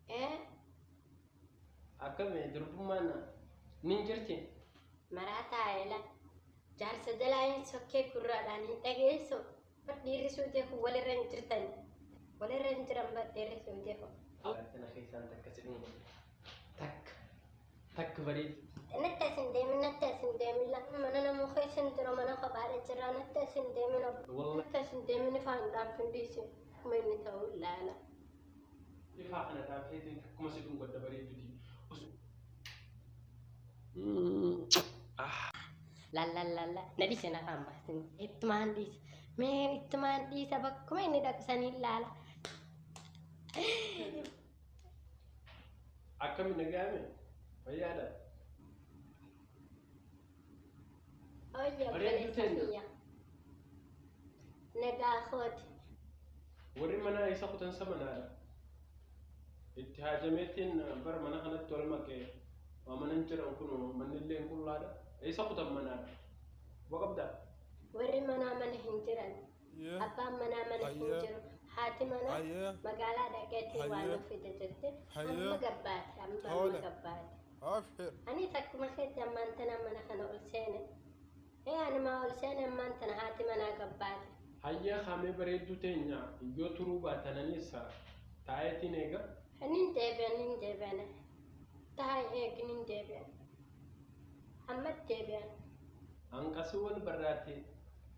Ee, Akkami durbummaan ni jirti? maraataa eela. Jaarsa jalaa hin sokkee gurraadhaan hin dhageessu. Bar dhiirri suutee kun walirra hin jirtan. Walirra hin jiran bar dhiirri suutee kun. Tana keessaan takka si dhumu. Takka. Takka bareedu. Natti as hin deemin, natti as hin deemin. Lafa mana namoo keessa hin jiru, mana kophaadha jira. Natti as hin deemin. Wallah. Natti as hin deemin ifaan dhaaf hin dhiisin. Kuma inni ta'uu ilaala. Ifaa kana taatee ta'e akkuma si dhuunfa adda bareeduti. Lallallalla na dhiise na faan baasin ittumaan dhiise mee ittumaan dhiisa bakkuma inni dhaqu saniin laala. Akkami nagaame fayyaadha. Hooyya Bareedduu obboleessa teenya. kiyya. Nagaa kooti. Warri manaa isa kutansa manaadha. Itti haajameetiin bara mana kanatti wal makee waa manan jiran kun manni illee hin qullaadha. Isa kutan manaadha. Quba qabdaa? Warri manaa mana hin jiran. Ayyee. Abbaan manaa mana hin Ayyee. jiru. Haati manaa Ayyee. magaalaa dhaqeetii waan Ayyee. of fide jette. Ayyee. Amma gabbaate. Amma amma Tole. gabbaate. Abshir. Ani takkuma keetti ammaan tana mana kana ol seene. Ee ani maa ol seene ammaan tana haati manaa gabbaate. Hayyee haamee bareedduu teenya yoo turuu baatananis taa'eetiin eega. Nin deebi'an nin deebi'an. Taa'e eegi nin deebi'an. Amma deebi'an. Hanqasiwwan barraate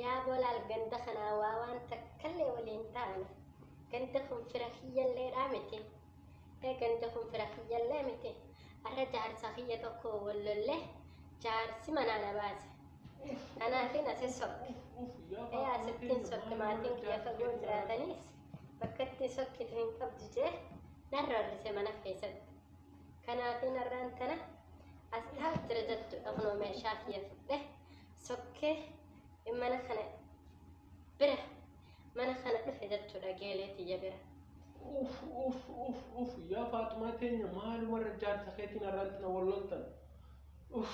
Yaa bolaal ganda kanaa waa waan takkallee wali hin taane ganda kun fira kiyyalleedhaa miti ee ganda kun fira kiyyallee miti arra jaarsa kiyya tokko wal lolle jaarsi manaa na baase kanaafin asi sokke ee asittiin sokke maatiin kiyya fagoo jiraataniis bakkatti sokkitu hin qabdu jee nan rarrise mana keessatti kanaafin arraan tana as taa'u jira jechuudha kunoo meeshaa kiyya fudhe sokkee mana kana bira mana kana dhufe jechuudha geelee tiyya bira. Uf uf uf uf yaa faaxumaa teenya maalumarra jaarsa keetiin arraatti na walloltan. Uf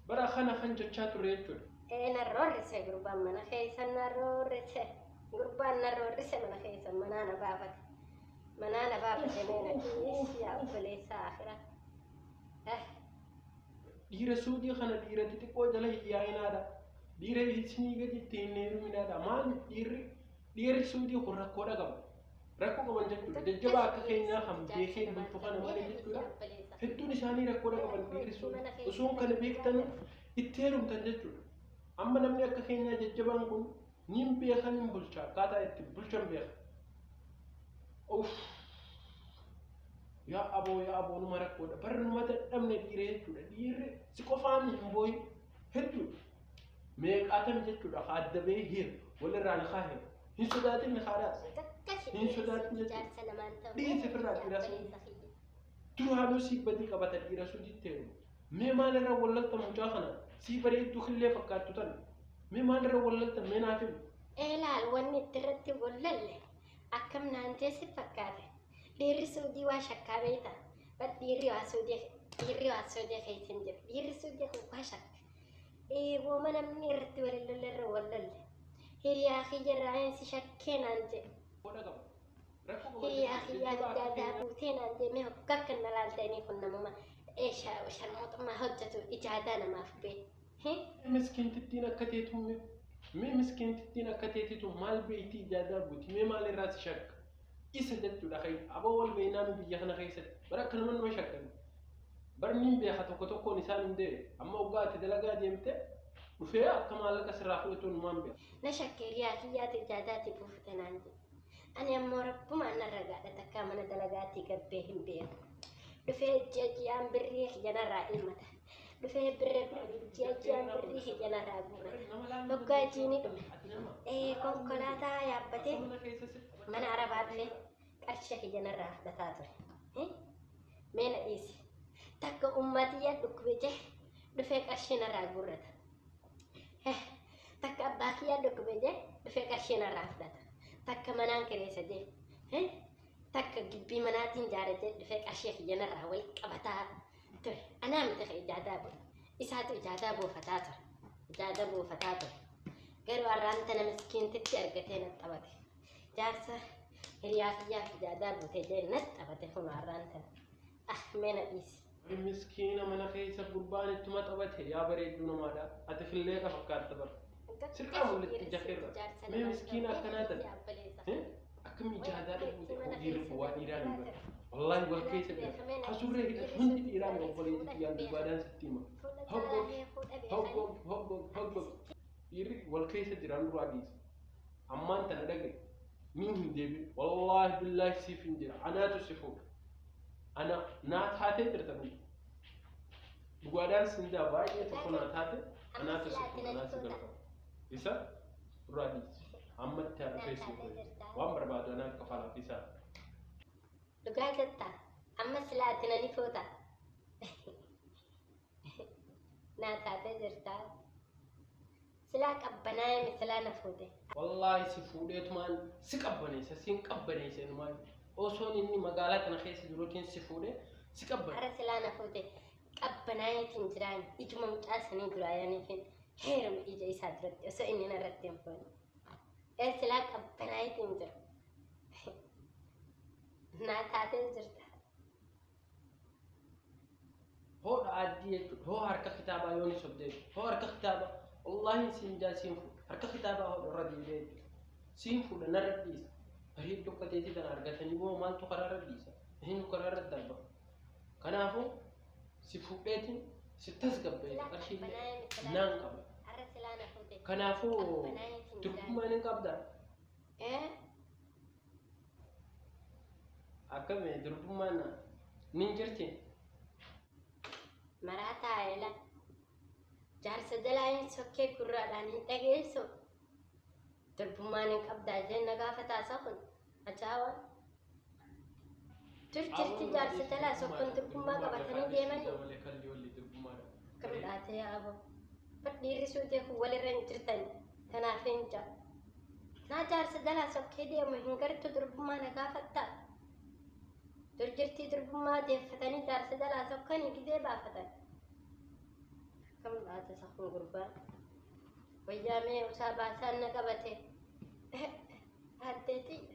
bara kana kan jechaa ture jechuudha. Ee na roorrise gurbaan mana keessa na roorrise gurbaan na roorrise mana keessa manaa na baafate manaa na baafate mee na dhiis yaa obboleessa akira. Eh. Dhiira suudii kana dhiira xixiqqoo jala hin yaa'inaadha. Dhiira isinii gadi itti hin heeruminaadha. Maaliif dhiirri dhiirri suudii kun rakkoodha qaba. Rakkoo qaban jechuudha. Jajjabaa akka keenyaa kan beekeen bultu kana malee jechuudha. Hedduun isaanii rakkoodha qaban dhiirri suudii. Osoo kana beektanii itti heerumtan jechuudha. Amma namni akka keenyaa jajjabaan kun Nin beeka nin bulcha akkaataa itti bulchan beeka. Uff yaa aboo yaa aboo numa rakkoodha bar numa dadhabne dhiiree jechuudha dhiirri si qofaan hin booyin hedduudha. Meeqaatan jechuudha haa adda ba'ee hir walirraa ni haa hir hin sodaatin ni haa daas. Hin sodaatin jechuudha. Dhiisi firraa dhiira sun duraanuu si badii qabata dhiira sun jitteeru. Mee maal irra wallalta mucaa kana sii bareedduu killee fakkaattu tana. Mee maal irra wallalta mee naaf himi. Eelaal wanni itti irratti wallalle akkam naan jeessi fakkaate. Dhiirri suudii waa shakkaa beeyta. Bar dhiirri waa suudii dhiirri waa suudii keessa hin jiru. Dhiirri suudii kun waa shakka. Eegooma namni irratti walillalle irra wallalle. Hiriyaa kiyya irraa hin si shakkee naan jedhe. Godha qaba. Hiyyaa hiyyaa guddaa daa buutee naan deemee hoggaa kan na laaltanii kun namuma eeshaa oshan mootummaa hojjetu ijaadaa namaaf bee. Miskiintittiin akka teetu mee mee miskiintittiin akka teetitu maal beeyti ijaadaa buuti mee maal irraa si shakka isa jechuudha kee aboo wal beeynaa nu biyya kana keessatti bara akka nama nama shakkan barniin beeka tokko tokkoon isaan hin dee'e amma hoggaa ati dalagaa deemte dhufee akka maallaqa sirraa fudhatu numaan beeka. Na shakkee hiyyaa hiyyaa ijaadaa ti buufte naan jedhe. Ani ammoo rabbumaan nan ragaadha takkaa mana dalagaatii gabbee hin beeku. Dhufee ji'a ji'aan birrii kiyya narraa ilmata. Dhufee birra ji'a ji'aan birrii kiyya narraa guurata. Moggaa jiini dhume. Ee konkolaataa yaabbatee mana arabaa dhufee qarsha kiyya narraa fudhataa ture. Eh? Mee na dhiisi. Takka ummaatiyyaa dhukkube jee dhufee qarshii narraa guurrata. takka abbaa kiyyaa dhukkube jee dhufee qarshii narraa fudhata takka manaan kireessa jee takka gibbii manaatiin jaare jee dhufee qarshii kiyya narraa wal qabataa ture anaa miti ka ijaadaa booda isaatu ijaadaa boofataa ture ijaadaa boofataa ture garuu har'aan tana miskiintitti argatee na taphate jaarsa hiriyaa kiyyaa ijaadaa buutee jee na taphate kun har'aan tana Ah mee na dhiisi. Ani miskiina mana keessa gurbaan ittuma taphate yaa bareedduu namaadha. Ati filleeqa fakkaatta bara. Sirqaa mul'atti jakeerra. Mee miskiina akkanaa taate. Akkamii jaadaa dhufuu ta'e hojii irra bu'aa dhiiraa ni bara. Wallaahi wal keessa jira. Hasurree hidhatu hundi dhiiraa ni obboleetti xiyyaan dubbaadhaan sitti hima. Hoggog hoggog hoggog hoggog. Dhiirri wal keessa jiraan duraa dhiisa. Ammaan tana dhagaye. Miin hin deebiin. Wallaahi billaahi siif hin jira. Anaatu si fuudha. ana naa taatee jirta kun dhugaadhaan sindaa baay'ee tokko naa taate anaa tasukku anaa si galfama isa irraa dhiisi ammatti haadha keessi waan barbaadu anaa akka falaaf isaa Dhugaa jetta. Amma silaa ati nani foota. Naa taatee jirtaa. Silaa qabbanaa'ee misilaa na fuute. Wallaahi si fuudheetumaan si qabbaneessa siin qabbaneessa inumaan osoon inni magaalaa kana keessa jiruutiin si fuudhee si qabbaneessa. Ara silaa na fuute qabbanaa'eetiin jiraan ijuma mucaa sanii duraa yaniifin heeruma ija isaa duratti osoo inni narratti hin fuune. Ee silaa qabbanaa'eetiin jira. Naa taatee jirta. Hoo dha'aaddii jechuudha. Hoo harka kitaabaa yoo ni sobdee jechuudha. Hoo harka kitaabaa wallaahi siin jaa siin fuudha. Harka kitaabaa hoo irra deebi'ee jechuudha. Siin fuudha narra dhiisa. Bareeddu akka teetii kana argatanii boo maaltu karaa irra dhiisa? Eenyu karaa irra darba? Kanaafuu si fuudheetiin si tasgabbeetu qarshii naan qaba. Kanaafuu durbumaan hin qabdaa? Eh? Akkami durbummaan na nin jirti. Maraataa eela. Jaarsa jalaa hin sokkee gurraadhaan hin dhageessu. Durbummaan hin qabdaa jeen na gaafataa isa kun. Ajaawa. Dur jirti jaarsa jalaa sokkoon durbummaa qabatanii deemanii. Wale kalli walli durbummaa dha. Akkam dhaatee yaabo. Bar dhiirri suutee kun walirra hin jirtani. Kanaaf hin ja. Naa jaarsa jalaa sokkee deemu hin gartu durbummaa na gaafatta. Dur jirtii durbummaa deeffatanii jaarsa jalaa sokkanii gizee baafatan. Akkam laata isa kun gurbaan. Wayyaa mee usaa baasaan na qabate. Addee xiyya.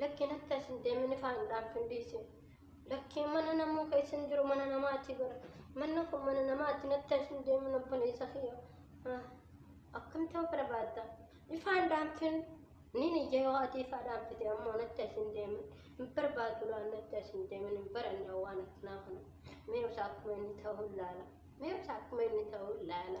Lakkiin akka isin deemini faanudhaaf hin dhiisin. Lakkiin mana namuu ka isin jiru mana namaati bara. Manni kun mana namaati natti isin deemin obboleessa kiyya. Ah, Akkam ta'uu barbaadda? Ifaan dhaanfin ni niyya yoo ati ifaa dhaanfite ammoo natti isin deemin. Hin barbaadu laan natti isin deemin hin baranne waan akkanaa kana. Mee osaa akkuma inni ta'uu laala. Mee osaa akkuma inni ta'uu laala.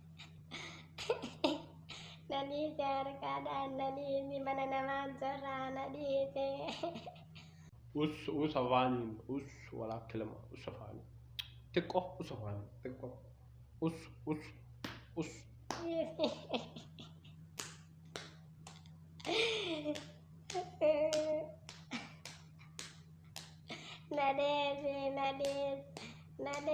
Nanii jaarkaan aannanii inni mana namaa jirraa na dhiite. Us us afaaniin us walaa kilama us afaaniin xiqqoo us afaaniin xiqqoo us us us. Nadee fi nadee nadee.